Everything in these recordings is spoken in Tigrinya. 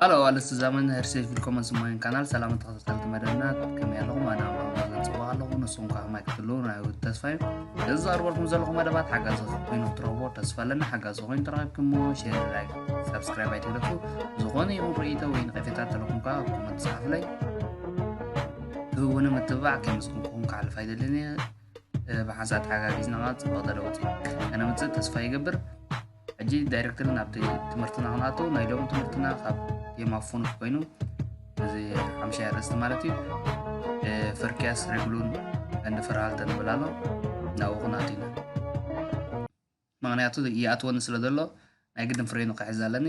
ሃሎ ኣልስቲ ዘመን ህርሴት ቪልኮመን ስማይን ካናል ሰላም ተኸታተልቲ መደብና ከመይ ኣለኹም ኣነ ኣማን ፅቡቅ ኣለኹ ንስኹም ከዓ ከማይ ክትህልው ናይ ውድ ተስፋ እዩ እዚ ዘቅርበልኩም ዘለኹ መደባት ሓጋዚ ኮይኑ ክትረኽቦ ተስፋ ኣለኒ ሓጋዚ ኮይኑ ተረኪብኩሞ ሼር ላይክ ሰብስክራይብ ኣይትግደፉ ዝኾነ ይኹን ርእይቶ ወይ ንቀፌታ ተለኹም ከዓ ኮመንት ፀሓፍለይ ትህውኒ ምትብባዕ ከምስኩም ክኹም ክሓልፍ ኣይደልን እየ ብሓንሳእ ተሓጋጊዝና ከዓ ፅቡቅ ተለውጢ ከነምፅእ ተስፋ ይገብር ሕጂ ዳይሬክተር ናብቲ ትምህርትና ክንኣቶ ናይ ሎሚ ትምህርትና ካብ ቴማ ፉኑት ኮይኑ እዚ ሓምሻይ ኣርእስቲ ማለት እዩ ፍርቅያስ ሬግሉን እንዲ ፍርሃልተ ንብል ኣሎ ናብኡ ክንኣት ኢና ምክንያቱ ይኣትወኒ ስለ ዘሎ ናይ ግድን ፍሬኑ ክሕዝ ኣለኒ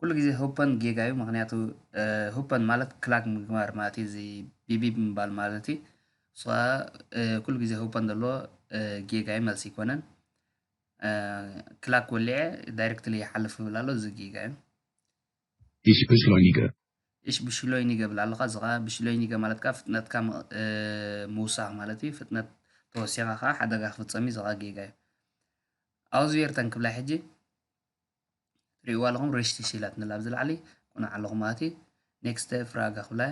ኩሉ ግዜ ሁፐን ጌጋ እዩ ምክንያቱ ሁፐን ማለት ክላግ ምግባር ማለት እዩ እዚ ቢቢብ ምባል ማለት እዩ እሱ ከዓ ኩሉ ግዜ ሁፐን ዘሎ ጌጋ እዩ መልሲ ኣይኮነን ክላክ ወሊዐ ዳይሬክትሊ ይሓልፍ ይብል ኣሎ እዚ ጌጋ እዩ ኢሽ ብሽሎይኒገ ኢሽ ብሽሎይኒገ ብል ኣለካ እዚ ከዓ ብሽሎይኒገ ማለት ከዓ ፍጥነትካ ምውሳኽ ማለት እዩ ፍጥነት ተወሲኻ ከዓ ሓደጋ ክፍፀም እዩ እዚ ከዓ ጌጋ እዩ ኣውዝቤርተን ክብላይ ሕጂ ትሪእዋ ኣለኹም ሬሽቲሽ ኢላትንላ ኣብዚ ላዕሊ ቁኑዕ ኣለኹም ኣቲ ኔክስተ ፍራጋ ክብላ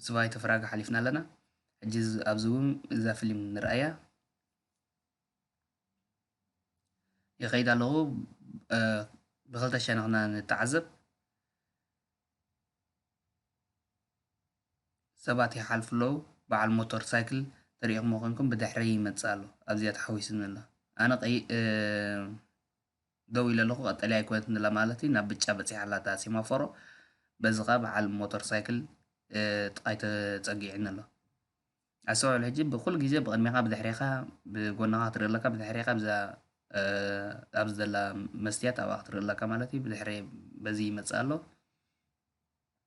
ስባይተ ፍራጋ ሓሊፍና ኣለና ሕጂ ኣብዚ እውን እዛ ፊልም ንርኣያ ይኸይድ ኣለኹ ብክልተ ሸነኽና ንተዓዘብ ሰባት ይሓልፉ ኣለዉ በዓል ሞቶር ሳይክል ተሪኢኹሞ ኮንኩም ብድሕረይ ይመጽእ ኣሎ ኣብዚኣ ተሓዊስኒ ኣሎ ኣነ ቀይ ደው ኢለ ኣለኹ ቀጠልያ ኣይኮነትን ዘላ ማለት እዩ ናብ ብጫ በጺሓ ኣላ እታ ሴማፎሮ በዚ ከኣ በዓል ሞቶር ሳይክል ጥቃይ ተጸጊዕኒ ኣሎ ኣስተውዕል ሕጂ ብኩሉ ግዜ ብቅድሜኻ ብድሕሬኻ ብጎናኻ ክትርኢ ኣለካ ብድሕሬኻ ብዛ ኣብዚ ዘላ መስትያት ኣብኣ ክትርኢ ኣለካ ማለት እዩ ብድሕሬ በዚ ይመጽእ ኣሎ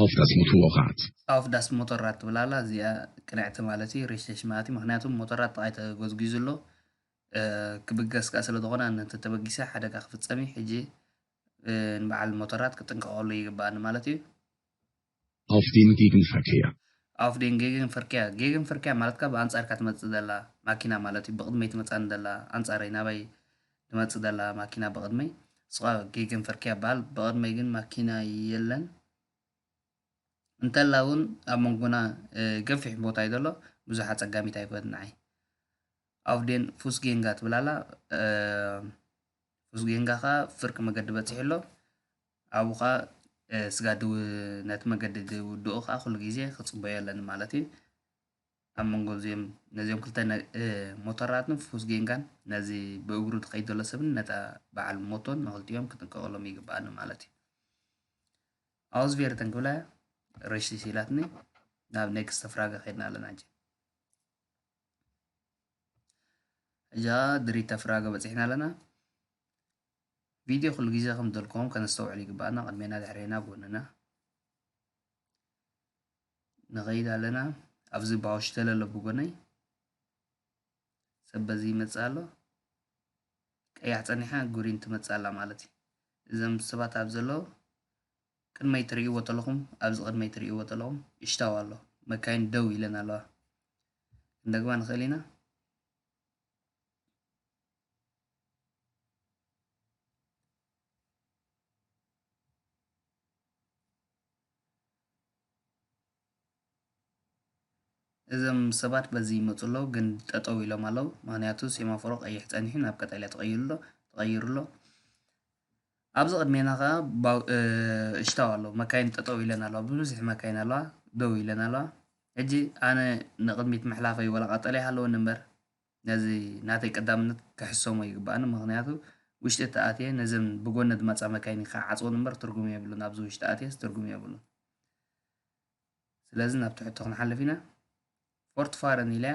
ኣውፍ ዳስ ሞቶሮራት። ኣውፍ ዳስ ሞቶሮራት ትብል ኣላ እዚኣ ቅንዕቲ ማለት እዩ ሪሴሽ ማለት እዩ ምክንያቱ ሞቶሮራት ጥቃይ ተጎዝጊዙ ኣሎ ክብገስ ከኣ ስለ ዝኾነ ነቲ ተበጊሰ ሓደጋ ክፍጸም እዩ ሕጂ ንበዓል ሞቶሮራት ክጥንቀቀሉ ይግበኣኒ ማለት እዩ ኣውፍ ዴን ጌግን ፈርኬያ። ኣውፍ ዴን ጌግን ፈርኬያ፣ ጌግን ፈርኬያ ማለት ከኣ ብኣንጻርካ ትመጽእ ዘላ ማኪና ማለት እዩ፣ ብቕድመይ ትመጽኣኒ ዘላ፣ ኣንጻረይ፣ ናባይ፣ ትመጽእ ዘላ ማኪና ብቕድመይ፣ እሱ ከኣ ጌግን ፈርኬያ ይበሃል፣ ብቕድመይ ግን ማኪና የለን፣ እንተላ እውን ኣብ መንጎና ገፊሕ ቦታ እዩ ዘሎ፣ ብዙሕ ኣጸጋሚት ኣይኮነትን ንዓይ። ኣውፍ ዴን ፉስጌንጋ ትብል ኣላ፣ ፉስጌንጋ ከኣ ፍርቂ መገዲ በጺሑ ኣሎ፣ ኣብኡ ከኣ ስጋ ነቲ መገዲ ዝውድኡ ከኣ ኩሉ ግዜ ክጽበዩ ኣለኒ ማለት እዩ። ኣብ መንጎ እዚኦም ነዚኦም ክልተ ሞተራትን ፍኩስ ጌንጋን ነዚ ብእግሩ ዝኸይድ ዘሎ ሰብን ነታ በዓል ሞቶን ንክልቲኦም ክጥንቀቐሎም ይግብኣኒ ማለት እዩ። ኣውዝቬርተን ክብላ ረሽቲ ሲላትኒ ናብ ኔክስተ ፍራገ ከይድና ኣለና ሕጂ እዛ ድሪተ ፍራገ በፂሕና ኣለና ቪድዮ ኩሉ ግዜ ከም ደልኮም ከነስተውዕል ይግባኣና ቅድሜና ድሕሬና ጎንና ንኸይድ ኣለና ኣብዚ ባውሽ ተለ ኣሎ ብጎነይ ሰብ በዚ ይመፅእ ኣሎ ቀያሕ ፀኒሓ ጉሪን ትመፅእ ኣላ ማለት እዩ እዞም ሰባት ኣብ ዘሎ ቅድመይ ትርእይዎ ተለኹም ኣብዚ ቅድመይ ትርእይዎ ተለኹም እሽታው ኣሎ መካይን ደው ኢለን ኣለዋ ክንደግማ ንኽእል ኢና እዞም ሰባት በዚ ይመፁ ኣለዉ ግን ጠጠው ኢሎም ኣለዉ ምክንያቱ ሴማፎሮ ቀይሕ ፀኒሑ ናብ ቀጠልያ ተቀይሩ ኣሎ ተቀይሩ ኣሎ። ኣብዚ ቅድሜና ከኣ ባው እሽታው ኣሎ መካይን ጠጠው ኢለን ኣለዋ ብብዝሒ መካይን ኣለዋ ደው ኢለን ኣለዋ ሕጂ ኣነ ንቅድሚት ምሕላፈይ ወላ ቀጠልያ ሃለወኒ እምበር ነዚ ናተይ ቀዳምነት ክሕሰሞ ይግባእኒ ምክንያቱ ውሽጢ ተኣትየ ነዘን ብጎኒ ዝመጻ መካይን ክዓጽወን እምበር ትርጉም የብሉን ኣብዚ ውሽጢ ኣትየስ ትርጉም የብሉን ስለዚ ናብ ትሕቶ ክንሓልፍ ኢና ፎርትፋረን ኢለያ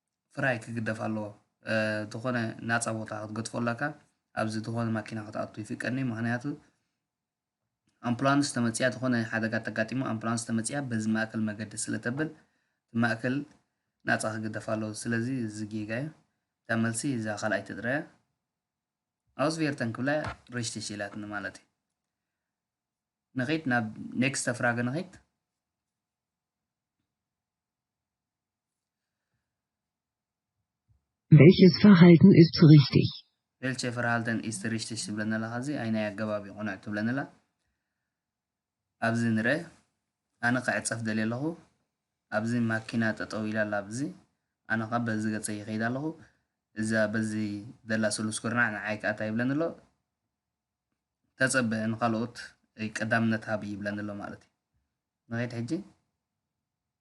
ፍራይ ክግደፍ ኣለዎ ተኾነ ናጻ ቦታ ክትገጥፎ ኣላካ ኣብዚ ተኾነ ማኪና ክትኣቱ ይፍቀድኒ ምክንያቱ ኣምፕላንስ ተመጽያ ተኾነ ሓደጋ ተጋጢሙ ኣምፕላንስ ተመጽያ በዚ ማእከል መገዲ ስለ ተብል ማእከል ናጻ ክግደፍ ኣለዎ ስለዚ እዚ ጌጋ እዩ እታ መልሲ እዛ ካልኣይ ትጥረያ ኣውስቬርተን ክብላ ሬሽተሽ ኢላትኒ ማለት እዩ ንኸይድ ናብ ኔክስተ ፍራገ ንኸይድ Welches Verhalten ist richtig? Welche Verhalten ist richtig ትብለኒ ኣላ ካብዚ ኣይናይ ኣገባብ እዩ ቅኑዕ ትብለኒ ኣላ ኣብዚ ንረ ኣነ ክዕፀፍ ደልየ ኣለኹ ኣብዚ ማኪና ጠጠው ኢላ ኣላ ኣብዚ ኣነ ከዓ በዚ ገፀ ይኸይድ ኣለኹ እዛ በዚ ደላ ስሉስ ኩርናዕ ንዓይ ከዓ እንታይ ይብለኒ ኣሎ ተፀበ ንካልኦት ቀዳምነት ሃብ ይብለኒ ኣሎ ማለት እዩ ንኸይድ ሕጂ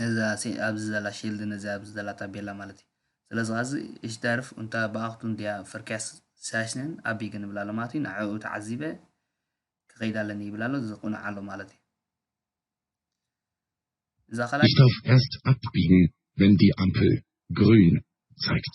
ነዛ ሲ ኣብዚ ዘላ ሺልድ ነዚኣ ኣብዚ ዘላ ታቤላ ማለት እዩ ስለዚ ኸዚ እሽ ዳርፍ እንታ ብኣኽቱም ድያ ፈርክያስ ሳሽንን ኣቢ ግን ይብላ ኣሎ ማለት እዩ ንዕኡ ተዓዚበ ክኸይድ ኣለኒ ይብል ኣሎ እዚ ቅኑዕ ኣሎ ማለት እዩ እዛ ካልኣይ Ich darf erst abbiegen, wenn die Ampel grün zeigt.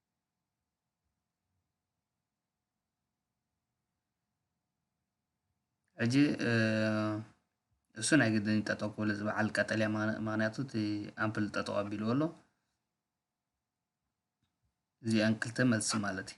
ሕጂ እሱ ናይ ግድን ጠጠው ክብል እዚ በዓል ቀጠልያ ምክንያቱ እቲ ኣምፕል ጠጠው ኣቢልዎ ኣሎ እዚኣን ክልተ መልሲ ማለት እዩ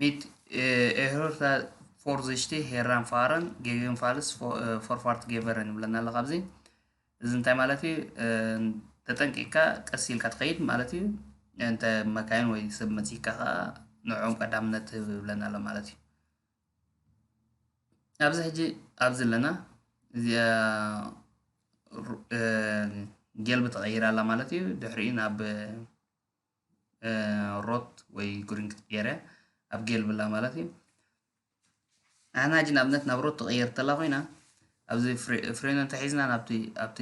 Mitt ኤህርታ ፎርዝሽቲ ሄራን ፋረን ጌግን ፋልስ ፎርፋርት ጌቨረን ይብለና ኣሎ ካብዚ እዚ እንታይ ማለት እዩ ተጠንቂቕካ ቀስ ኢልካ ትኸይድ ማለት እዩ እንተ መካይን ወይ ሰብ መፂካ ከዓ ንዕኦም ቀዳምነት ትህብ ይብለና ኣሎ ማለት እዩ ኣብዚ ሕጂ ኣብዚ ኣለና እዚኣ ጌልቢ ተቐይራ ኣላ ማለት እዩ ድሕሪኡ ናብ ሮት ወይ ጉሪንግት ጴረ ኣብ ጌል ብላ ማለት እዩ ኣና ሕጂ ንኣብነት ናብ ሮት ትቐየር ተላ ኮይና ኣብዚ ፍሬን እንተሒዝና ናብቲ ኣብቲ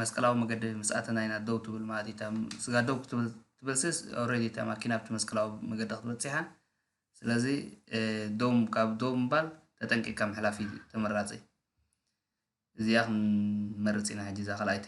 መስቀላዊ መገዲ ምስ ኣተና ኢና ደው ትብል ማለት እዩ ስጋ ደው ክትብል ትብልስስ ኦልሬዲ እታ ማኪና ኣብቲ መስቀላዊ መገዲ ክትበፅሓ ስለዚ ዶም ካብ ዶም ምባል ተጠንቂቅካ ምሕላፍ እዩ ተመራፂ እዚኣ ክንመርፅ ኢና ሕጂ እዛ ካልኣይቲ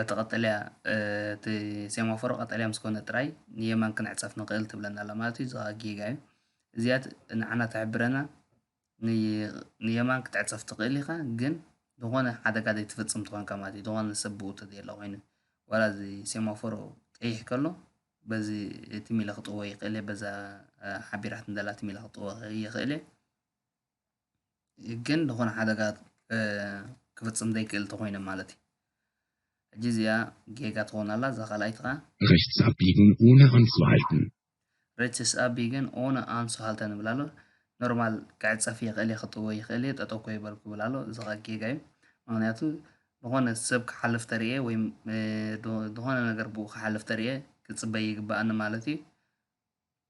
እቲ ቀጠልያ እቲ ሴማፎር ቀጠልያ ምስ ኮነ ጥራይ ንየማን ክንዕጸፍ ንኽእል ትብለና ኣላ ማለት እዩ። እዚ ከኣ ጌጋ እዩ። እዚኣ ንዓና ትሕብረና ንየማን ክትዕጸፍ ትኽእል ኢኻ ግን ዝኾነ ሓደጋ ዘይትፍጽም ተኾንካ ማለት እዩ። ዝኾነ ሰብ ብኡ ተዘየለ ኮይኑ ዋላ እዚ ሴማፎር ቀይሕ ከሎ በዚ ትም ኢለ ክጥወ ይኽእል እየ በዛ ሓቢራትኒ ዘላ ትም ኢለ ክጥወ ይኽእል እየ። ግን ዝኾነ ሓደጋ ክፍፅም ዘይክእል እንተኾይነ ማለት እዩ ሕጂ እዚኣ ጌጋ ትኾን ኣላ እዛ ካልኣይቲ ከዓ Rechts abbiegen ohne anzuhalten Rechts abbiegen ohne anzuhalten ይብል ኣሎ ኖርማል ክዕፀፍ ይኽእል እየ ክጥወ ይኽእል እየ ጠጠው ኮ ይበልኩ ይብል ኣሎ እዚ ከዓ ጌጋ እዩ ምክንያቱ ዝኾነ ሰብ ክሓልፍ ተርእየ ወይም ዝኾነ ነገር ብኡ ክሓልፍ ተርእየ ክፅበይ ይግባኣኒ ማለት እዩ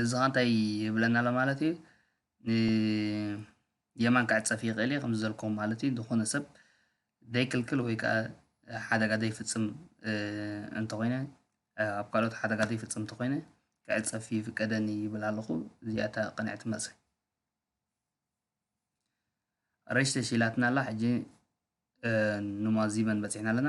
እዚ ከኣ እንታይ ይብለና ኣሎ ማለት እዩ ንየማን ክዕፀፍ ይኽእል እዩ ከምዚ ዘልኩም ማለት እዩ ዝኾነ ሰብ ዘይክልክል ወይ ከዓ ሓደጋ ዘይፍፅም እንተኾይነ ኣብ ካልኦት ሓደጋ ዘይፍፅም እንተኾይነ ክዕፀፍ ይፍቀደኒ ይብል ኣለኹ እዚኣ እታ ቅንዕቲ መልሲ ረሽ ተሽኢላትና ኣላ ሕጂ ንማዚበን በፂሕና ኣለና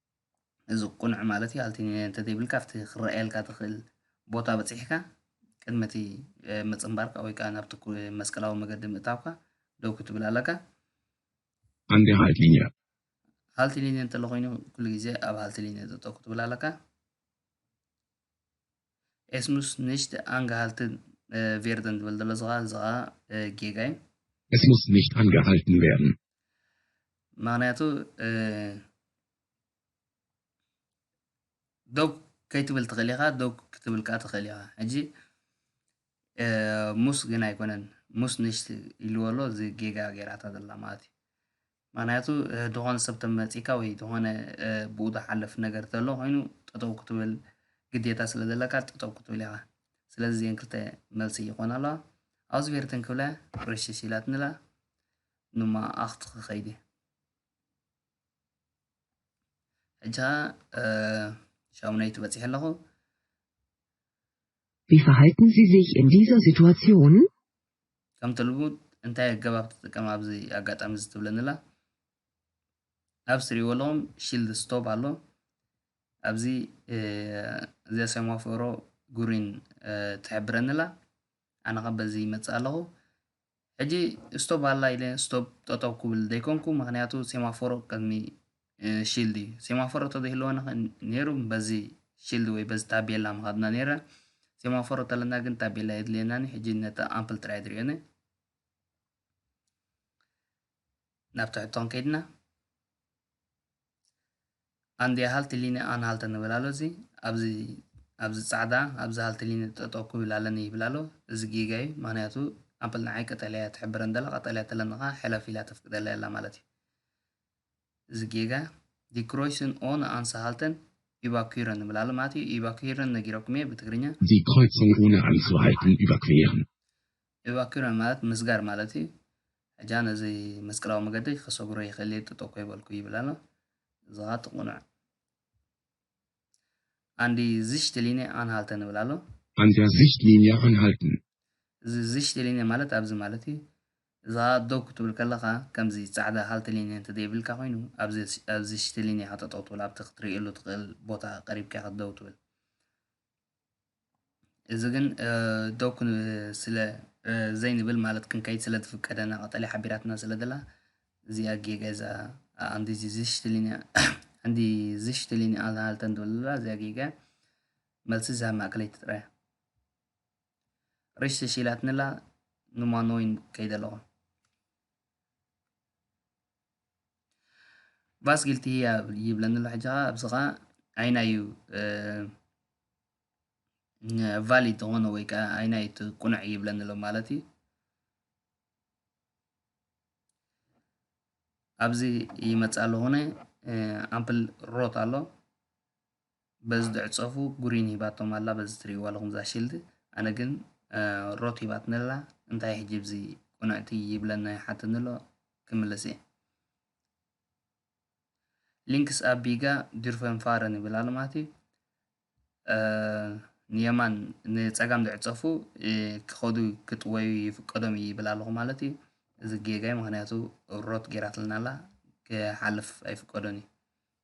እዚ ቅኑዕ ማለት እዩ ኣልቲኒነ እንተዘይብልካ ኣብቲ ክረኣየልካ ትኽእል ቦታ በጺሕካ ቅድሚ እቲ ምጽንባርካ ወይ ከዓ ናብቲ መስቀላዊ መገዲ ምእታውካ ደው ክትብል ኣለካ ኣንዲ ሃልቲኒነ ሃልቲኒነ እንተሎ ኮይኑ ኩሉ ግዜ ኣብ ሃልቲኒነ ጠጠው ክትብል ኣለካ Es muss nicht angehalten werden ዝብል ዘሎ እዚ ከዓ እዚ ከዓ ጌጋ እዩ Es muss nicht angehalten werden ምክንያቱ ደው ከይትብል ትኽእል ኢኻ ደው ክትብል ከዓ ትኽእል ኢኻ ሕጂ ሙስ ግን ኣይኮነን ሙስ ንሽቲ ኢልዎ ኣሎ እዚ ጌጋ ገይራታ ዘላ ማለት እዩ ምክንያቱ ዝኾነ ሰብ ተመፂካ ወይ ዝኾነ ብኡ ዝሓለፍ ነገር ዘሎ ኮይኑ ጠጠው ክትብል ግዴታ ስለ ዘለካ ጠጠው ክትብል ኢኻ ስለዚ እዚአን ክልተ መልሲ ይኾና ኣለዋ ኣውስቬርትን ክብላ ርሽሽ ኢላትኒ ኣላ ንመኣኣኽት ክኸይድ እየ ሕጂ ኸኣ ሻሙነይቲ በጺሐ ኣለኹ። Wie verhalten Sie sich in dieser Situation? ከምቲ ልሙድ እንታይ ኣገባብ ትጥቀም ኣብዚ ኣጋጣሚ እዚ ትብለኒ ኣላ ኣብ ስሪዎ ኣለኹም ሺልድ ስቶፕ ኣሎ ኣብዚ እዚኣ ሴማፎሮ ጉሪን ትሕብረኒ ኣላ ኣነ ኸ በዚ ይመፅእ ኣለኹ ሕጂ ስቶብ ኣላ ኢለ ስቶብ ጠጠው ክብል ደይኮንኩ ምክንያቱ ሴማፎሮ ቅድሚ ሺልድ እዩ ሴማፎሮ ተዘይህልወና ነይሩ በዚ ሺልድ ወይ በዚ ታቤላ ምካድና ነይረ ሴማፎሮ ተለና ግን ታቤላ የድልየናኒ ሕጂ ነታ ኣምፕል ጥራይ ድሪኦኒ ናብ ትሕቶ ከይድና ኣንድያ ሃልቲ ሊነ ኣን ሃልተ ንብል ኣሎ እዚ ኣብዚ ኣብዚ ጻዕዳ ኣብዚ ሃልቲ ሊነ ጠጠው ክብል ኣለኒ ይብል ኣሎ እዚ ጌጋ እዩ ምክንያቱ ኣምፕል ንዓይ ቀጠልያ እያ ትሕብረን ዘላ ቀጠልያ ተለኒ ከዓ ሕለፍ ኢላ ተፍቅደላ የላ ማለት እዩ እዚ ጌጋ ዲክሮይስን ኦን ኣንስ ሃልተን ኢቫኩረን ንብል ኣሎ ማለት እዩ ኢቫኩረን ነጊረኩም እየ ብትግርኛ ዲክሮይስን ኦን ኣንስ ሃልተን ኢቫኩረን Evacuera ማለት ምስጋር ማለት እዩ። ሕጃ ነዚ መስቀላዊ መገደይ ከሰግሮ ይክእል እየ ጥጦ እኮ ይበልኩ ይብል ኣሎ እዚ ከኣ እቲ ቁኑዕ ኣንዲ ዝሽት ሊንየ ኣንሃልተን ይብል ኣሎ። ኣንዳ ዝሽት ሊንየ ኣንሃልተን። እዚ ዝሽት ሊንየ ማለት ኣብዚ ማለት እዩ። እዚ ከኣ ደው ክትብል ከለካ ከምዚ ጻዕዳ ሃልተ ሊንየ እንተዘይ ብልካ ኮይኑ ኣብዚ ዝሽት ሊንየ ኢካ ጠጠው ትብል ኣብቲ ክትርእየሉ ትክእል ቦታ ቀሪብካ ኢካ ደው ትብል። እዚ ግን ደው ስለ ዘይንብል ማለት ክንከይድ ስለ ዝፍቀደና ቀጠልያ ሓቢራትና ስለ ዘላ እዚኣ ጌገዛ ኣንዲ ዝሽትሊኒ ኣንዲ ዝሽትሊኒ ኣልሃልተን ዶላ እዚኣ ጌገ መልሲ ዝሃብ ማእከለይቲ ጥራይ ሪሽ ተሽኢላትንላ ንማኖይን ከይደ ኣለኹ ባስ ጊልቲ ህያ ይብለኒ ኣሎ ሕጂ ኸኣ ኣብዚ ኸኣ ኣይናይ እዩ ቫሊድ ዝኾነ ወይ ከዓ ኣይናይ እቲ ቁኑዕ ይብለኒ ኣሎ ማለት እዩ ኣብዚ ይመፅእ ኣለኹነ ኣምፕል ሮት ኣሎ በዚ ድዕጸፉ ጉሪን ሂባቶም ኣላ በዚ ትሪእዋ ኣለኹም እዛ ሽልድ ኣነ ግን ሮት ሂባትኒ ኣላ እንታይ ሕጂ ብዚ ቁንዕቲ ይብለና ይሓተኒ ኣሎ ክምልስ እየ ሊንክስ ኣቢጋ ዲርፈን ፋረን ይብል ኣሎ ማለት እዩ ንየማን ንፀጋም ዝዕፀፉ ክኸዱ ክጥወዩ ይፍቀዶም እዩ ይብል ኣለኹ ማለት እዩ እዚ ጌጋይ ምክንያቱ ሮት ጌራትልና ኣላ ክሓልፍ ኣይፍቀዶን እዩ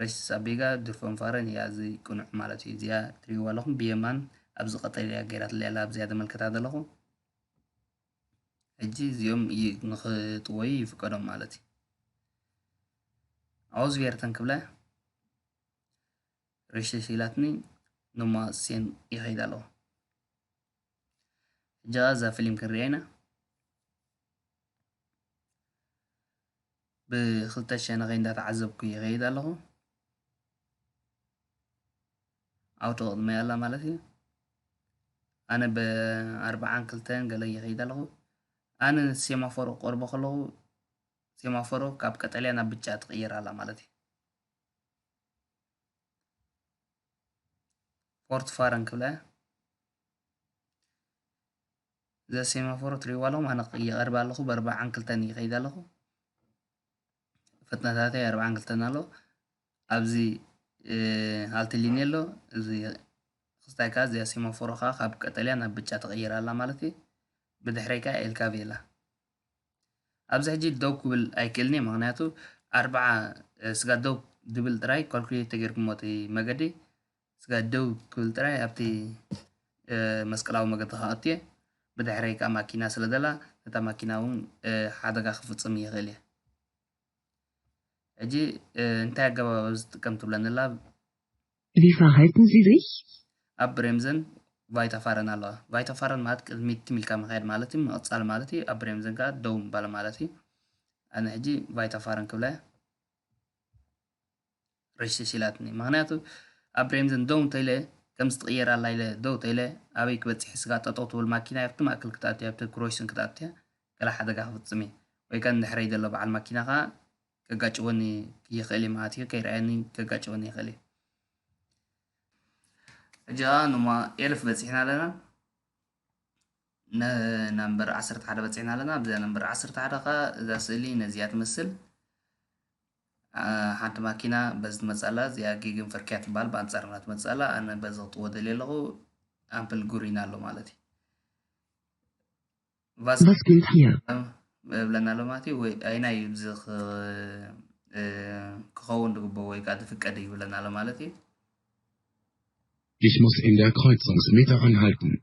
ሬስስ ኣቢጋ ድርፎም ፋረን ኢያ እዚ ቅኑዕ ማለት ኢዩ እዚኣ ትሪእዋ ኣለኹም ብየማን ኣብዚ ቀጠልያ ገይራትለይ ኣላ ኣብዚኣ ተመልከታ ዘለኹ ሕጂ እዚኦም ንኽጥወዩ ይፍቀዶም ማለት እዩ ኣውዝቤርተን ክብላ ሬሽሽ ኢላትኒ ንማ ሴን ይኸይድ ኣለኹ ሕጂ እዛ ፊልም ክንሪኣ ኢና ብክልተ ሸነኸይ እንዳተዓዘብኩ ይኸይድ ኣለኹ። ዓው ተቕድመይ ኣላ ማለት እዩ። ኣነ ብኣርብዓን ክልተን ገለ ይኸይድ ኣለኹ። ኣነ ሴማፎሮ ቀርቦ ከለኹ ሴማፎሮ ካብ ቀጠልያ ናብ ብጫ ትቕየር ኣላ ማለት እዩ። ፎርት ፋረን ክብላ እያ። እዛ ሴማፎር ትሪእዋ ኣለኹም ኣነ ይቐርብ ኣለኹ ብኣርባዓን ክልተን ይኸይድ ኣለኹ ፍጥነታተይ ኣርባዓን ክልተን ኣሎ ኣብዚ ሃልቲ ሊኒ ኣሎ እዚ ክስታይ ከዓ እዚኣ ሴማፎሮ ከዓ ካብ ቀጠልያ ናብ ብጫ ተቐይራ ኣላ ማለት እዩ ብድሕረይ ከዓ ኤልካቪ ኣላ ኣብዚ ሕጂ ደው ክብል ኣይክእልን እየ ምክንያቱ ኣርባዓ ስጋ ደው ድብል ጥራይ ካልኩሌት ተገይርኩሞ እቲ መገዲ ስጋይ ደው ክብል ጥራይ ኣብቲ መስቀላዊ መገድኻ ኣትየ፣ ብድሕረይ ከኣ ማኪና ስለ ዘላ ነታ ማኪና እውን ሓደጋ ክፍጽም ይኽእል እየ። ሕጂ እንታይ ኣገባብ ኣብዚ ትጥቀም ትብለኒ ኣላ? Wie verhalten Sie sich? ኣብ ብሬምዘን ቫይታፋረን ኣለዋ። ቫይታፋረን ማለት ቅድሚት ትም ኢልካ ምኻድ ማለት እዩ፣ ምቕጻል ማለት እዩ። ኣብ ብሬምዘን ከኣ ደው ምባል ማለት እዩ። ኣነ ሕጂ ቫይታፋረን ክብላ እየ። ረሽሽ ኢላትኒ ምክንያቱ ኣብ ብሬምዘን ደው እንተኢለ ከምዚ ትቕየር ኣላ ኢለ ደው ተኢለ ኣበይ ክበጽሕ ስጋ ጠጠው ትብል ማኪናይ ኣብቲ ማእከል ክትኣቱ ኣብቲ ክሮሽን ክትኣቱ ገለ ሓደጋ ክፍጽም እየ ወይ ከኣ ንድሕረይ ዘሎ በዓል ማኪና ከኣ ከጋጭወኒ ይኽእል እየ ማለት እዩ ከይረኣየኒ ከጋጭወኒ ይኽእል እዩ ሕጂ ከኣ ንማ ኤልፍ በጺሕና ኣለና ነምበር ዓሰርተ ሓደ በጺሕና ኣለና ኣብዛ ነምበር ዓሰርተ ሓደ ከኣ እዛ ስእሊ ነዚኣ ትመስል ሓንቲ ማኪና በዚ ትመጽእ ኣላ እዚኣ ጊግን ፈርክያ ትበሃል ብኣንጻርና ትመጽእ ኣላ ኣነ በዚ ክጥዎ ደልየ ኣለኹ ኣምፕል ጉሪና ኣሎ ማለት እዩ ቫስኪን ታየር ብለና ኣሎ ማለት እዩ ወይ ኣይና እዩ እዚ ክኸውን ዝግበኦ ወይ ከዓ ዝፍቀድ እዩ ብለና ኣሎ ማለት እዩ Ich muss in der Kreuzungsmitte anhalten.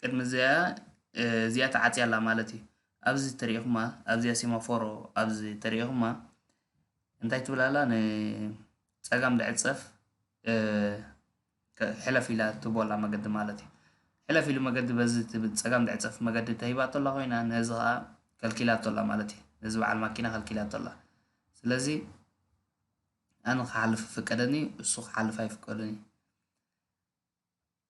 ቅድሚ እዚኣ እዚኣ ተዓጽያ ኣላ ማለት እዩ ኣብዚ ተሪኢኹማ ኣብዚኣ ሴማፎሮ ኣብዚ ተሪኢኹማ እንታይ ትብል ኣላ ንፀጋም ልዕል ፀፍ ሕለፍ ኢላ ትቦ ኣላ መገዲ ማለት እዩ ሕለፍ ኢሉ መገዲ በዚ ትብል ፀጋም ልዕል ፀፍ መገዲ ተሂባቶ ኣላ ኮይና ነዚ ከዓ ከልኪላቶ ኣላ ማለት እዩ ነዚ በዓል ማኪና ከልኪላቶ ኣላ ስለዚ ኣነ ክሓልፍ ፍቀደኒ እሱ ክሓልፍ ኣይፍቀዱን እዩ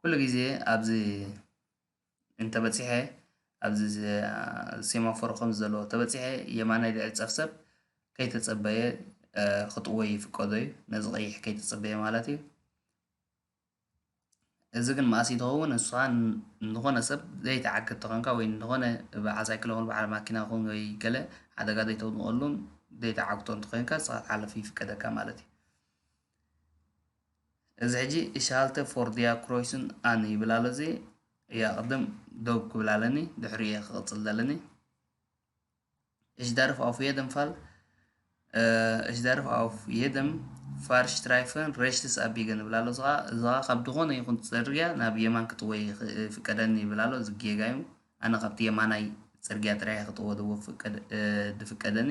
ኩሉ ግዜ ኣብዚ እንተበጺሐ ኣብዚ ሴማፎር ከምዚ ዘሎ እንተበጺሐ የማናይ ዝዕጸፍ ሰብ ከይተጸበየ ክጥወይ ይፍቀዶ እዩ ነዚ ቀይሕ ከይተጸበየ ማለት እዩ እዚ ግን መኣስ እዩ ዝኸውን ንስኻ ንዝኾነ ሰብ ዘይትዓግት ተኾንካ ወይ ንዝኾነ በዓል ሳይክል ይኹን በዓል ማኪና ይኹን ወይ ገለ ሓደጋ ዘይተውድቐሉን ዘይትዓግቶ እንተኾይንካ ንስኻ ክትሓልፍ ይፍቀደካ ማለት እዩ። እዚ ሕጂ እሽ ሃልተ ፎር ዲያ ክሮይስን ኣን ይብል ኣሎ እዚ እያ ቅድም ደው ክብል ኣለኒ ድሕሪ እየ ክቕፅል ዘለኒ እሽ ደርፍ ኣፍ የደም ፋል እሽ ደርፍ ኣፍ የደም ፋርሽ ትራይፈን ረሽትስ ኣቢገን ይብል ኣሎ እዚ እዚ ካብ ዝኾነ ይኹን ፅርግያ ናብ የማን ክጥወይ ፍቀደኒ ይብል ኣሎ እዚ ጌጋ እዩ ኣነ ካብቲ የማናይ ፅርግያ ጥራይ ክጥወ ድፍቀደኒ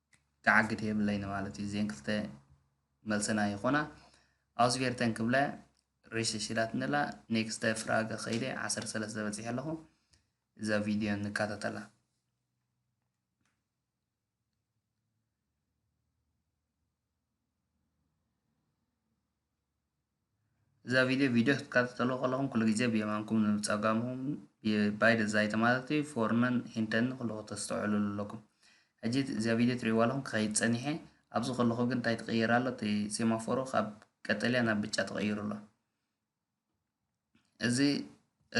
ክዓግት የብለይን ማለት እዩ እዜን ክልተ መልስና ይኾና ኣውስቬርተን ክብለ ሪሽሽ ኢላትኒ ኣላ ኔክስተ ፍራገ ከይደ ዓሰርተ ሰለስተ በፂሐ ኣለኹ እዛ ቪድዮ ንከታተላ እዛ ቪድዮ ቪድዮ ክትከታተሉ ከለኹም ኩሉ ግዜ ብየማንኩም ንብፀጋምኩም ባይ ደዛይተ ማለት እዩ ፎርነን ሂንተን ኩሉ ክተስተውዕልሉ ኣለኩም ሕጂ እዚኣ ቪድዮ ትሪእዋ ኣለኹም ክኸይድ ፀኒሐ ኣብዚ ከለኹ ግን እንታይ ትቕየር ኣሎ እቲ ሴማፎሮ ካብ ቀጠልያ ናብ ብጫ ተቐይሩ ኣሎ እዚ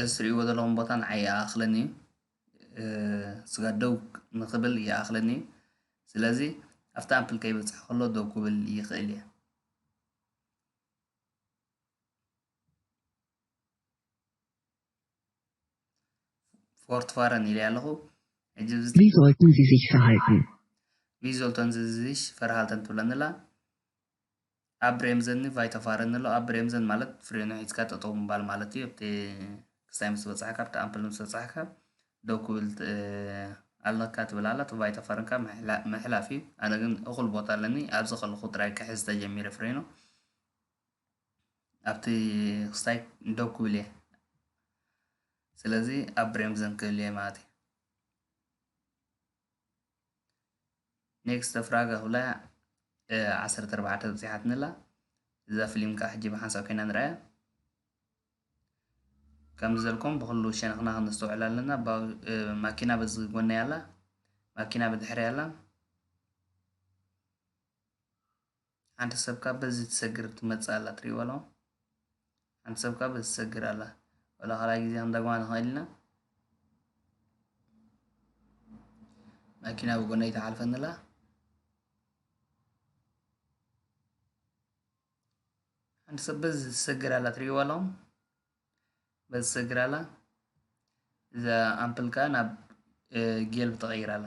እትሪእዎ ዘለኹም ቦታ ንዓይ ይኣኽለኒ እዩ። ስጋ ደው ንኽብል ይኣኽለኒ እዩ። ስለዚ ኣብቲ ኣምፕል ከይበፅሐ ከሎ ደው ክብል ይኽእል እየ። ፎርት ፋረን ኢለያ ኣለኹ ሕጂ እዚ Wie sollten Sie sich verhalten? ቪ ዞልተን ዝዝሽ ፈርሃልተን ትብለኒ ኣላ ኣብ ብሬምዘን ን ቫይተፋረን ንሎ ኣብ ብሬምዘን ማለት ፍሬኑ ሒዝካ ጠጠው ምባል ማለት እዩ ኣብቲ ክስታይ ምስ በጻሕካ ኣብቲ ኣምፕል ምስ በጻሕካ ደው ክብል ኣለካ ትብል ኣላ እቲ ቫይተፋረን ካብ ምሕላፍ እዩ ኣነ ግን እኹል ቦታ ኣለኒ ኣብዚ ከለኹ ጥራይ ክሕዝ ተጀሚረ ፍሬኑ ኣብቲ ክስታይ ደው ክብል እየ ስለዚ ኣብ ብሬምዘን ክህሉ እየ ማለት እዩ ኔክስት ፍራግ ኣኹላ ዓሰርተ ኣርባዕተ ኣብፂሓትኒ ኣላ እዛ ፊልም ከዓ ሕጂ ብሓንሳእ ኮይና ንርኣያ ከምዚ ዘልኩም ብኩሉ ሸነኽና ክነስተውዕል ኣለና ማኪና በዚ ጎነይ ኣላ ማኪና ብድሕሪ ኣላ ሓንቲ ሰብ ካብ በዚ ትሰግር ትመጽእ ኣላ ትሪእዋ ኣለኹም ሓንቲ ሰብ ካብ በዚ ትሰግር ኣላ ወላ ካልኣይ ግዜ ክንደግማ ንኽእል ኢና ማኪና ብጎነይ ተሓልፈኒ ኣላ ሓንቲ ሰብ በዚ ትሰግር ኣላ ትሪእዋ ኣለኹም በዚ ትሰግር ኣላ እዛ ኣምፕል ከዓ ናብ ጌልብ ተቐይር ኣላ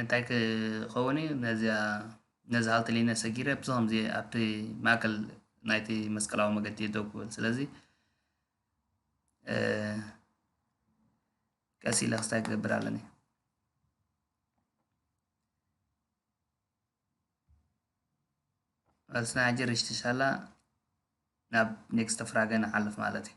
እንታይ ክኸውን እዩ ነዚኣ ነዚ ሃልቲ ሊነ ሰጊረ ብዚ ከምዚ ኣብቲ ማእከል ናይቲ መስቀላዊ መገዲ ደው ክብል ስለዚ ቀስ ኢለ ክስታይ ክገብር ኣለኒ ስና ሕጂ ርሽትሻላ ናብ ኔክስተ ፍራገ ንሓልፍ ማለት እዩ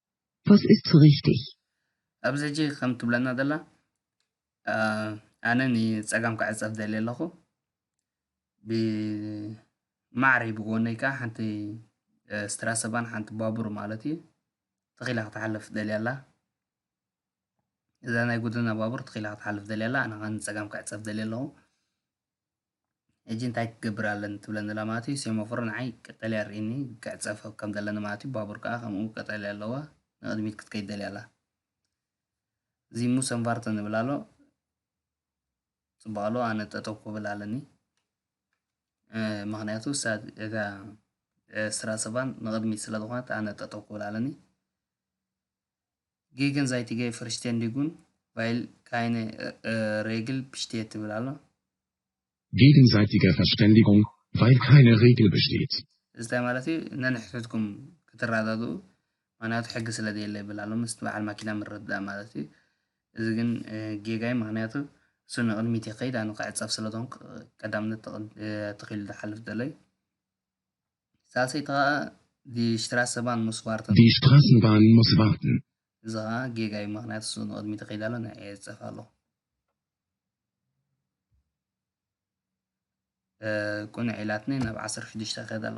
ቫስ ኢስት ሶ ሪክቲግ? ኣብዚ ሕጂ ከም ትብለና ዘላ ኣነ ንጸጋም ክዕጸፍ ደልየ ኣለኹ ብማዕረይ ብጎነይ ከኣ ሓንቲ ስትራሰባን ሓንቲ ባቡር ማለት እዩ ተኺላ ክትሓልፍ ደልያ ኣላ እዛ ናይ ጉድና ባቡር ተኺላ ክትሓልፍ ደልያ ኣላ ኣነ ከኣ ንጸጋም ክዕጸፍ ደልየ ኣለኹ ሕጂ እንታይ ክገብር ኣለኒ ትብለኒ ኣላ ማለት እዩ ሴሞፎር ንዓይ ቀጠልያ ኣርእይኒ ክዕጸፍ ከም ዘለኒ ማለት እዩ ባቡር ከኣ ከምኡ ቀጠልያ ኣለዋ ንቕድሚት ክትከይድ ደልያ ኣላ እዚ ሙሰንቫርተን ዝብል ኣሎ ጽቡቕ ኣለዎ ኣነ ጠጠው ክብል ኣለኒ ምክንያቱ እታ ስራ ሰባን ንቕድሚት ስለ ዝኾነት ኣነ ጠጠው ክብል ኣለኒ ጌገን ዛይቲገ ፈርሽቴንዲጉን ቫይል ካይነ ሬግል ብሽቴት ትብል ኣሎ። ጌገንዛይቲገ ፈርሽቴንዲጉን ቫይል ካይነ ሬግል ብሽቴት። እዚ እንታይ ማለት እዩ ነንሕድሕድኩም ክትረዳድኡ ምክንያቱ ሕጊ ስለ ዘየለ ይብል ኣሎ ምስ በዓል ማኪና ምርድዳእ ማለት እዩ እዚ ግን ጌጋ እዩ ምክንያቱ እሱ ንቕድሚት ይኸይድ ኣነ ክዕፀፍ ስለ ዝኾንኩ ቀዳምነት ተኺሉ ዝሓልፍ ዘሎ እዩ ሳልሰይቲ ከኣ ዲ ሽትራሰባን ሙስ ዋርተን። ዲ ሽትራሰንባን ሙስ ዋርተን። እዚ ከኣ ጌጋ እዩ ምክንያቱ እሱ ንቅድሚት ይከይድ ኣሎ ንዕይ ይዕጸፍ ኣሎ። ቁንዕ ኢላትኒ ናብ ዓሰርተ ሽዱሽተ ይከይድ ኣሎ።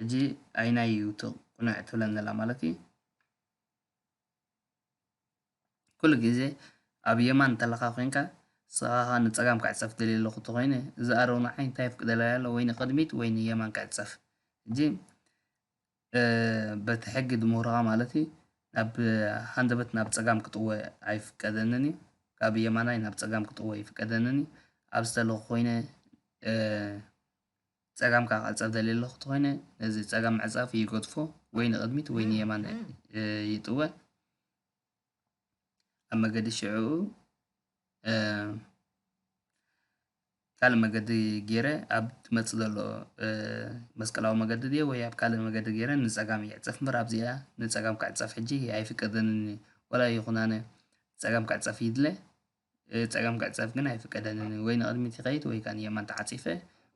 ሕጂ ኣይናይ እዩ እቲ ቁኑዕ ትብለን ዘላ ማለት እዩ ኩሉ ግዜ ኣብ የማን እንተለካ ኮይንካ ስቃካ ንጸጋም ክዕጸፍ ደልየ ኣለኩ ተኮይነ እዚ ኣረው ንዓይ እንታይ የፍቅደለይ ኣሎ ወይ ንቅድሚት ወይ ንየማን ክዕጸፍ ሕጂ በቲ ሕጊ ድምህሮካ ማለት እዩ ናብ ሃንደበት ናብ ጸጋም ክጥወ ኣይፍቀደንን እዩ ካብ የማናይ ናብ ጸጋም ክጥወ ይፍቀደንን እዩ ኣብ ዝተለኩ ኮይነ ጸጋም ከኣ ክዕጸፍ ደልየ ኣለኹ ተኾይነ ነዚ ጸጋም ምዕጻፍ ይገድፎ ወይ ንቕድሚት ወይ ንየማን ይጥወ ኣብ መገዲ ሽዕኡ ካልእ መገዲ ገይረ ኣብ ትመፅእ ዘሎ መስቀላዊ መገዲ ድየ ወይ ኣብ ካልእ መገዲ ገይረ ንፀጋም ይዕፀፍ እምበር ኣብዚኣ ንፀጋም ክዕፀፍ ሕጂ ኣይፍቀደንን እዩ ወላ ይኹን ኣነ ፀጋም ክዕፀፍ ይድለ ጸጋም ክዕጸፍ ግን ኣይፍቀደልንን ወይ ንቕድሚት ይኸይድ ወይ ከኣ ንየማን ተዓጺፈ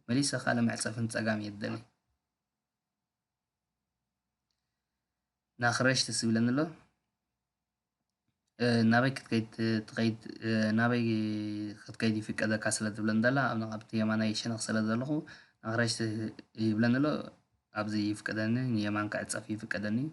መሊሰ ካልእ መዕጸፊ ንጸጋም እየ ዝደሊ ናኽረሽ ደስ ይብለኒ ኣሎ ናበይ ክትከይድ ትኸይድ ናበይ ክትከይድ ይፍቀደካ ስለ ዝብለኒ ዘላ ኣብ ኣብቲ የማናይ ሸነኽ ስለ ዘለኹ ናኽረሽ ይብለኒ ኣሎ ኣብዚ ይፍቀደኒ ንየማን ክዕጸፍ ይፍቀደኒ እዩ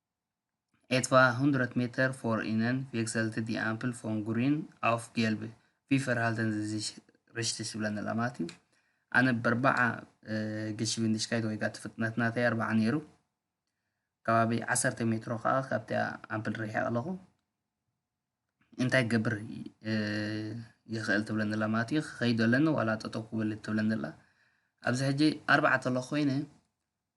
Etwa 100 Meter vor ihnen wechselte die Ampel von grün auf gelb. Wie verhalten sie sich richtig ዝብለና ኣላ ማለት እዩ ኣነ በርባዓ ገሽብንድሽካይት ወይ ከዓ እቲ ፍጥነት ናተይ ኣርባዓ ነይሩ ከባቢ ዓሰርተ ሜትሮ ከዓ ካብቲ ኣምፕል ርሒቐ ኣለኹ እንታይ ገብር ይኽእል ትብለኒ ኣላ ማለት እዩ ክኸይዶ ኣለኒ ዋላ ጠጠው ክብል ትብለኒ ኣላ ኣብዚ ሕጂ ኣርባዕተ ኣለኹ ኮይነ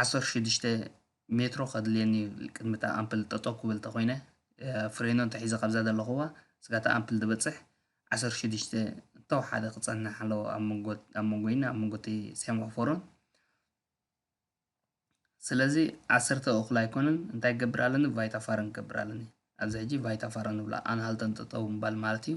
ዓሰርተ ሽዱሽተ ሜትሮ ከድልየኒ እዩ ቅድሚ እታ ኣምፕል ጠጠው ክብል ተኮይነ ፍሬኖ እንተሒዘ ካብዛ ዘለኹዋ ስጋ እታ ኣምፕል ዝበፅሕ ዓሰርተ ሽዱሽተ ተወሓደ ክፀንሕ ኣለዎ ኣብ መንጎይን ኣብ መንጎ እቲ ሴማፎሮን ስለዚ ዓሰርተ እኹል ኣይኮነን እንታይ ክገብር ኣለኒ ቫይታ ፋረን ክገብር ኣለኒ ኣብዚ ሕጂ ቫይታ ፋረን ንብላ ኣንሃልተን ጠጠው ምባል ማለት እዩ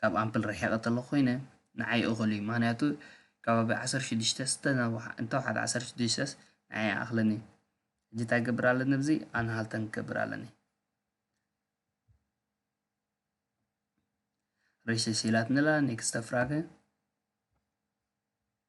ካብ ኣምፕል ርሒቐ ተለ ኮይነ ንዓይ እኹል እዩ ምክንያቱ ከባቢ ዓሰርተ ሽዱሽተ እንተውሓደ ዓሰርተ ሽዱሽተስ ንዓይ ይኣኽለኒ ሕጂ እንታይ ገብር ኣለኒ ብዚ ኣንሃልተን ክገብር ኣለኒ ሬሸሽ ኢላትንላ ኔክስተ ፍራገ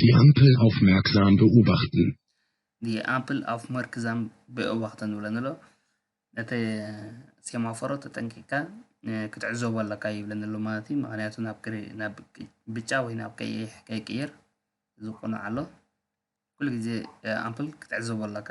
ዲ ኣምፕል ኣውፍመርክዛም በኡባክተን። ዲ ኣምፕል ኣውፍመርክዛም በኡባክተን ይብለኒ ኣሎ። ነቲ ሴማፎሮ ተጠንቂቅካ ክትዕዘቦ ኣለካ ይብለኒ ኣሎ ማለት እዩ። ምክንያቱ ናብ ብጫ ወይ ናብ ቀይሕ ከይቅይር ዝቁኑዕ ኣሎ። ኩሉ ግዜ ኣምፕል ክትዕዘቦ ኣለካ።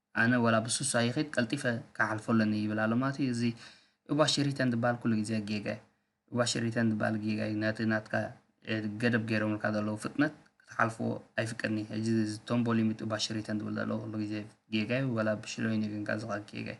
ኣነ ወላ ብሱሳ ይኺድ ቀልጢፈ ክሓልፎ ኣለኒ ይብል ኣሎ ማለት እዩ እዚ ኡባሽሪተን ዝብሃል ኩሉ ግዜ ጌጋ እዩ ኡባሽሪተን ዝብሃል ጌጋ እዩ ነቲ ናትካ ገደብ ገይሮምልካ ዘለዉ ፍጥነት ክትሓልፎ ኣይፍቀድኒ ሕጂ እዚ ቶምቦ ሊሚት ኡባሽሪተን ዝብል ዘለዎ ኩሉ ግዜ ጌጋ እዩ ወላ ብሽሎይኒ ግን ካብዚ ጌጋ እዩ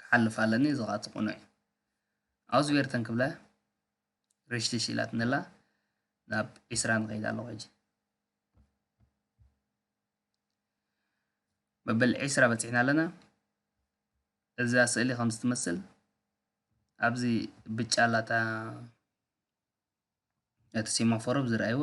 ክሓልፍ ኣለኒ እዚ ከኣ እቲ ቅኑዕ እዩ ኣውዝቤርተን ክብላ ርሽትሽ ኢላትኒ ኣላ ናብ ዒስራን ከይድ ኣለኹ ሕጂ መበል ዒስራ በፂሕና ኣለና እዛ ስእሊ ከም ዝትመስል ኣብዚ ብጫ ኣላታ እቲ ሴማፎሮብ ዝረኣይዎ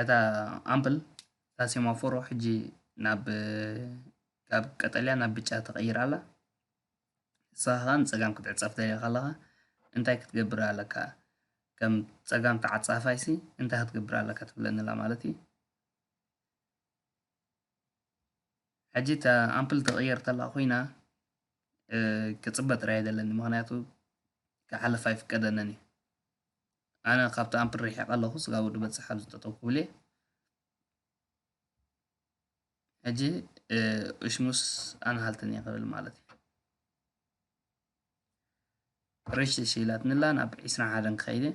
እታ ኣምፕል እታ ሴማፎሮ ሕጂ ናብ ካብ ቀጠልያ ናብ ብጫ ተቐይራ ኣላ ንስኻ ከዓ ንፀጋም ክትዕፀፍ ደሊኻ ኣለኻ እንታይ ክትገብር ኣለካ ከም ፀጋም ተዓፃፋይሲ እንታይ ክትገብር ኣለካ ትብለኒ ኣላ ማለት እዩ ሕጂ እታ ኣምፕል ተቐየር ተላ ኮይና ክፅበ ጥራይ የደለኒ ምክንያቱ ክሓልፍ ኣይፍቀደንን እዩ ኣነ ካብቲ ኣምፕል ርሒቐ ኣለኹ ስጋ ወዲ በጽሕ ኣብዚ ጠጠው ክብል እየ ሕጂ እሽሙስ ኣንሃልትን እየ ክብል ማለት እዩ ርሽሽ ኢላትንላ ናብ ዒስራ ሓደን ክኸይድ እየ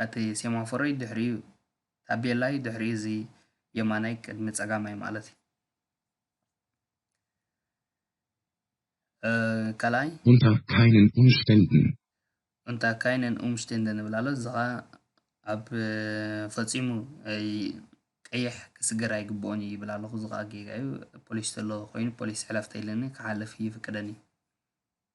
ነቲ ሴማፎረይ ድሕሪኡ ታቤላይ ድሕሪ እዚ የማናይ ቅድሚ ጸጋማይ ማለት እዩ። ካልኣይ Unter keinen Umständen። Unter keinen Umständen ዝብል ኣሎ እዚ ከኣ ኣብ ፈጺሙ ቀይሕ ክስገር ኣይግብኦን እዩ ይብል ኣለኹ እዚ ከኣ ጌጋ እዩ ፖሊስ ተሎ ኮይኑ ፖሊስ ሕለፍ ተይልኒ ክሓልፍ ይፍቅደኒ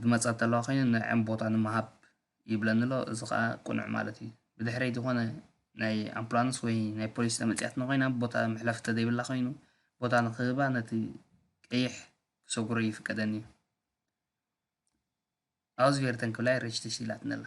ዝመጻ እተለዋ ኮይነን ንዐን ቦታ ንምሃብ ይብለኒ ኣሎ እዚ ከኣ ቅኑዕ ማለት እዩ ብድሕረይ ዝኾነ ናይ ኣምቡላንስ ወይ ናይ ፖሊስ ተመጽያትና ኮይና ቦታ መሕለፊ ተዘይብላ ኮይኑ ቦታ ንክህባ ነቲ ቀይሕ ክሰጉሮ ይፍቀደኒ እዩ ኣውዝቬርተን ክብላይ ሬሽተሽ ኢላትኒ ኣላ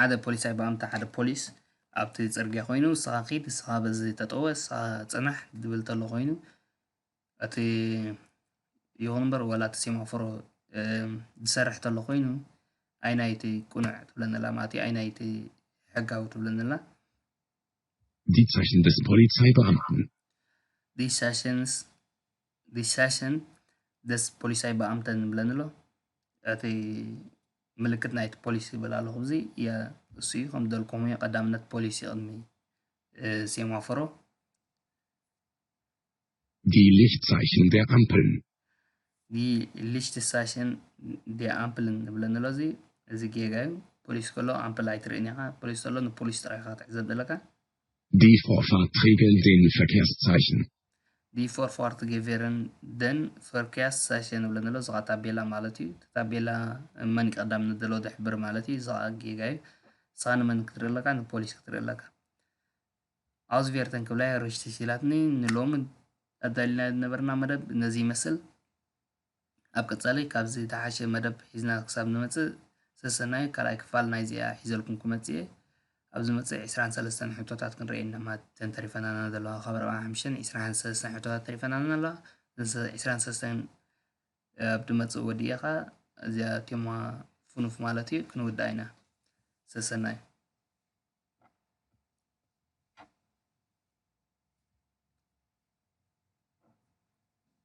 ሓደ ፖሊሳይ ብኣምታ ሓደ ፖሊስ ኣብቲ ጽርግያ ኮይኑ ንስኻ ኪድ ንስኻ በዚ ጠጠወ ንስኻ ጽናሕ ድብል ተሎ ኮይኑ እቲ ይኹን እምበር ዋላ እቲ ሴማፎሮ ዝሰርሕ ተሎ ኮይኑ ኣይናይ እቲ ቁኑዕ ትብለኒ ኣላ ማለት እዩ ኣይናይ እቲ ሕጋዊ ትብለኒ ኣላ Die Zeichen des Polizeibeamten Die Zeichen ዲሻሽን ደስ ፖሊሳይ በኣምተ ንብለን ኣሎ እቲ ምልክት ናይቲ ፖሊስ ይብል ኣለኹ እዚ እሱ እዩ ከም ደልኩም እዩ ቀዳምነት ፖሊስ ይቕድሚ ሴማፎሮ Die Lichtzeichen der Ampeln. Die Lichtzeichen der Ampeln ንብለን ኣሎ እዚ እዚ ጌጋ እዩ ፖሊስ ከሎ ኣምፕል ኣይትርእን ኢኻ ፖሊስ ከሎ ንፖሊስ ጥራይ ኢኻ ክትዕዘብ ዘለካ Die Vorfahrt regeln den Verkehrszeichen. Die Vorfahrt gewähren den Verkehrszeichen ንብሎ ንሎ እዚ ኸዓ ታቤላ ማለት እዩ። እቲ ታቤላ መን ቀዳም ንደሎ ደሕብር ማለት እዩ። እዚ ኸዓ ጌጋ እዩ። ንስኻ ንመን ክትርኢ ኣለካ? ንፖሊስ ክትርኢ ኣለካ። ኣውዝቬርተን ክብላ እየ ርሽቲ ሲላትኒ ንሎሚ ኣዳሊልና ዝነበርና መደብ ነዚ ይመስል። ኣብ ቀጻሊ ካብዚ ዝትሓሸ መደብ ሒዝና ክሳብ ንመጽእ ሰሰናዩ ካልኣይ ክፋል ናይዚኣ ሒዘልኩም ክመጽእየ ኣብ ዝመጽእ ዕስራን ሰለስተን ሕቶታት ክንርኤ ኢና እተን ተሪፈናና ዘለዋ ካብ ኣርብዓን ሓምሽተን ዕስራን ሰለስተን ሕቶታት ተሪፈናና ኣለዋ እዘን ዕስራን ሰለስተን ኣብ ድመጽእ ወዲኤ ከኣ እዚኣ ቴማ ፍኑፍ ማለት እዩ ክንውድኣ ኢና ሰሰናዩ